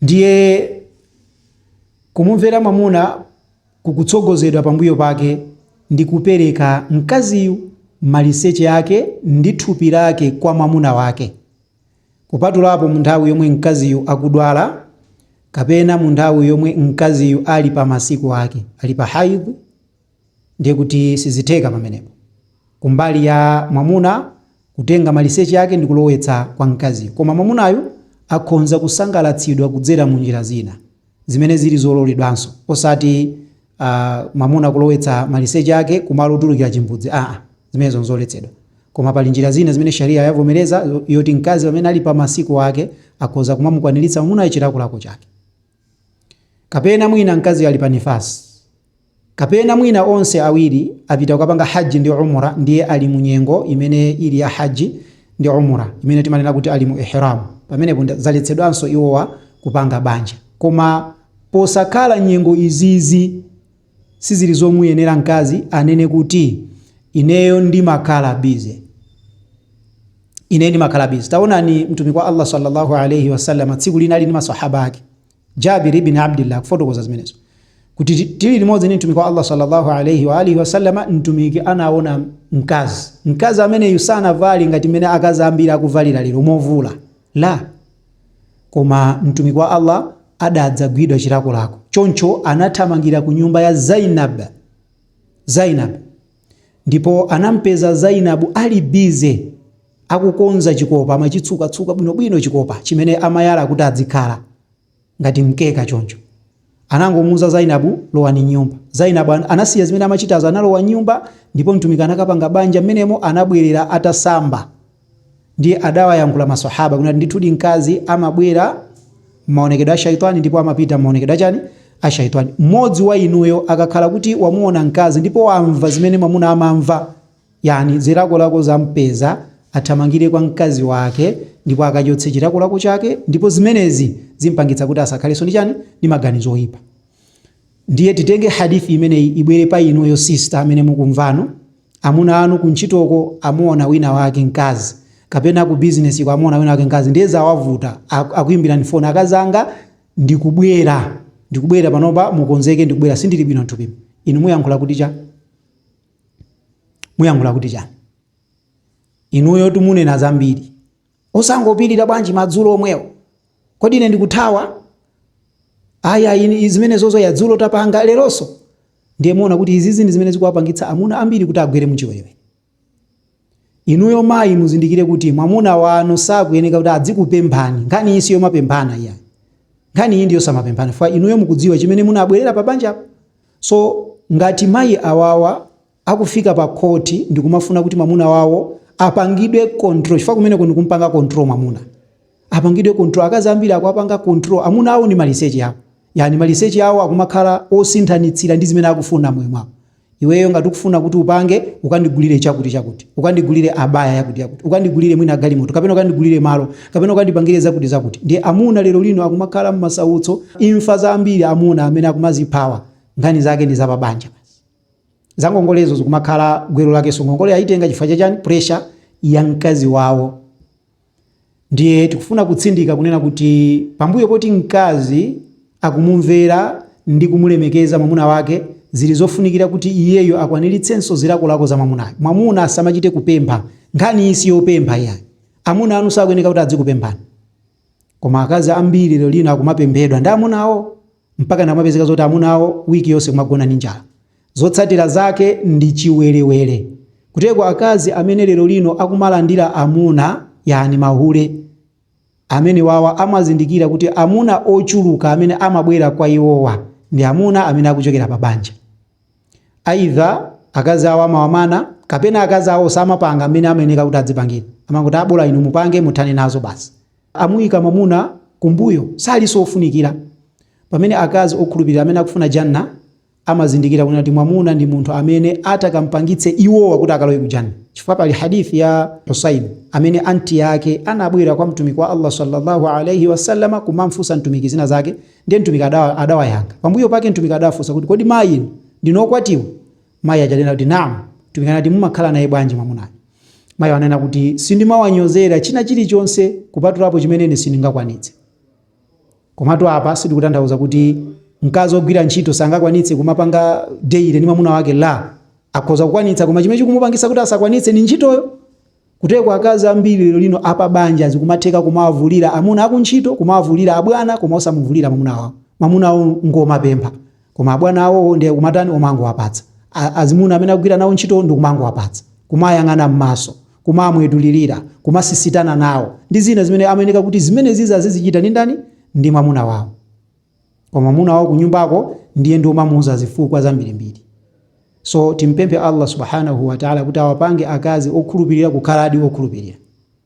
Ndiye, kumumvera mwamuna kukutsogozedwa pambuyo pake ndi kupereka mkaziyu, maliseche ake ndi thupi lake kwa mwamuna wake, kupatulapo mu nthawi yomwe mkaziyu akudwala kapena mu nthawi yomwe mkaziyu ali pa masiku ake, ali pa haidh. Ndiye kuti sizitheka pamenepo, kumbali ya mwamuna, kutenga maliseche ake ndi kulowetsa kwa mkaziyo. Koma mwamunayu akhonza kusangalatsidwa kudzera mu njira zina zimene zili zololedwanso, osati a, mwamuna kulowetsa maliseche ake kumalo otulukira chimbudzi, aa, zimenezo nzoletsedwa. Koma pali njira zina zimene Shariah yavomereza yoti mkazi pamene ali pa masiku ake akhoza kumamukwaniritsa mwamunayo chilakolako chake. Kapena mwina mkaziyu ali pa Nifaas. Kapena mwina onse awiri apita kukapanga Hajj ndi Umrah ndiye ali mu nyengo imene ili ya Hajj ndi Umrah, imene timanena kuti ali mu Ihraam, pamenepo zaletsedwanso iwowa kupanga banja. Koma posakhala nyengo izizi. Sizili zomuyenera mkazi anene kuti ineyo ndimakhala busy, ineyo ndimakhala busy. Taonani Mtumiki wa Allah salla Allah alaih wasallam tsiku lina ali ndi maswahaba ake, Jabir ibn Abdillah akufotokoza zimenezo kuti tili limodzi ndi Mtumiki wa Allah salla Allah alaih wa alihi wasallam, Mtumiki anaona mkazi. Mkazi ameneyu sanavale ngati mmene akazi ambiri akuvalira lero, movula la. Koma Mtumiki wa Allaah adadzagwidwa chilakolako, choncho anathamangira ku nyumba ya Zaynab, Zaynab, ndipo anampeza Zaynab ali busy akukonza chikopa, amachitsuka tsuka bwinobwino chikopa chimene amayala kuti adzikhala ngati mkeka choncho. Anangomuuza Zainabu, Lowani m'nyumba. Zainabu an anasiya zimene amachitazo, analowa m'nyumba ndipo Mtumiki anakapanga banja m'menemo, anabwerera atasamba. Ndiye adawayankhula Maswahaaba kunena kuti, Ndithudi mkazi amabwera m'maonekedwe a Shaytwaan ndipo amapita m'maonekedwe a chani? a Shaytwaan. Mmodzi wa inuyo akakhala kuti wamuona mkazi ndipo wamva zimene mwamuna amamva, Yani, zilakolako zampeza, athamangire kwa mkazi wake ndipo akachotse chilakolako chake ndipo zimenezi zimpangitsa kuti asakhalenso ndi chani ndi maganizo oyipa. Ndiye titenge hadith imeneyi ibwere pa inuyo sister amene mukumvano, amuna anu kuntchitoko amuona wina wake mkazi kapena ku business-ko amuona wina wake mkazi ndiye zawavuta, akuimbirani phone akazanga ndikubwera ndikubwera panopa mukonzeke ndikubwera sindili bwino nthupi inu muyankhula kuti cha muyankhula kuti chani inuyo tumunena zambiri osangopirira bwanji madzulo omwewo kodi ine ndikuthawa ayayi zimenezozo ya dzulo tapanga leronso ndiye muona kuti izizi ndi zimene zikuwapangitsa amuna ambiri kuti agwere muchiwerewere Inuyo mayi muzindikire kuti mwamuna wanu sakuyeneka kuti adzikupemphani. Nkhani iyi siyomapemphana iyayi. Nkhani iyi ndiyosamapemphana chifukwa inuyo mukudziwa chimene munabwelera pa banjapo. So ngati mayi awawa akufika pa khoti ndikumafuna kuti mwamuna wawo apangidwe control chifukwa kumeneko ndikumpanga control mwamuna. apangidwe control akazi ambiri akuwapanga control amuna awo ndi maliseche awo yani maliseche awo akumakhala osinthanitsira ndi zimene akufuna mmoyo mwawo iweyo ngati ukufuna kuti upange ukandigulire chakuti chakuti ukandigulire abaya yakuti yakuti ukandigulire mwina galimoto kapena ukandigulire malo kapena ukandipangire zakuti zakuti ndiye amuna lero lino akumakhala mmasautso imfa zambiri za amuna amene akumaziphawa nkhani zake ndi zapabanja basi zangongolezo zikumakhala gwero lakenso ngongole ayitenga chifukwa chachani pressure ya mkazi wawo Ndiye tikufuna kutsindika kunena kuti pambuyo poti mkazi akumumvera ndi kumulemekeza mwamuna wake, zili zofunikira kuti iyeyo akwaniritsenso zilakolako za mwamunayo. Mwamuna asamachite kupempha. Nkhaniyi si yopempha iyayi. Amuna anu sakuyeneka kuti adzikupemphani. Koma akazi ambiri lero lino akumapemphedwa ndi amuna awo. mpakana kumapezeka zoti amuna awo week yonse kumagona ndi njala. Zotsatira zake ndi chiwerewere. Kutereko akazi amene lero lino akumalandira amuna, yaani mahule, amenewawa amazindikira kuti amuna ochuluka amene amabwera kwa iwowa ndi amuna amene akuchokera pa banja. Aidha akazi awo amawamana kapena akazi awo samapanga mmene amayeneka kuti adzipangira, amangoti abola inu mupange muthane nazo basi. amuyika mwamuna kumbuyo, salinso ofunikira. Pamene akazi okhulupirira amene akufuna Jannah amazindikira kunena kuti mwamuna ndi munthu amene atakampangitse iwowa kuti akalowe ku Jannah. Chifukwa pali hadith ya Husayn amene anti yake anabwera kwa Mtumiki wa Allah sallallahu alaihi wasallam kumamfunsa Mtumiki zina zake, ndiye Mtumiki adawayankha. Pambuyo pake Mtumiki adawafunsa kuti, kodi mayi inu ndinu okwatiwa? Mayi aja ananena kuti, Naam. Mtumiki anati, Mumakhala naye bwanji mwamunayu? Mayiwo ananena kuti, Sindimawanyozera china chilichonse kupatulapo chimene ine sindingakwanitse. Komatu apa sitikutanthauza kuti mkazi ogwira ntchito sangakwanitse kumapanga daily ndi mwamuna wake, la. Akhoza kukwanitsa koma chimene chikumupangitsa kuti asakwanitse ndi ntchitoyo. Kuteko akazi ambiri lero lino apabanja zikumatheka kumawavulira amuna akuntchito, kumawavulira abwana koma osamuvulira mamuna wawo. Mamuna wawo ngomapempha koma abwana awowo nde kumatani omangowapatsa. Azimuna amene akugwira nawo ntchitowo ndikumangowapatsa, kumayang'ana mmaso, kumawamwetulilira, kumasisitana nawo ndi zina zimene amayeneka kuti zimenezizi azizichita ndi ndani? Ndi mwamuna wawo. koma mwamuna wawo kunyumbako ndiye ndi omamuuza zifukwa zambirimbiri so timpemphe Allah subhanahu wa ta'ala kuti awapange akazi okhulupirira kukhaladi okhulupirira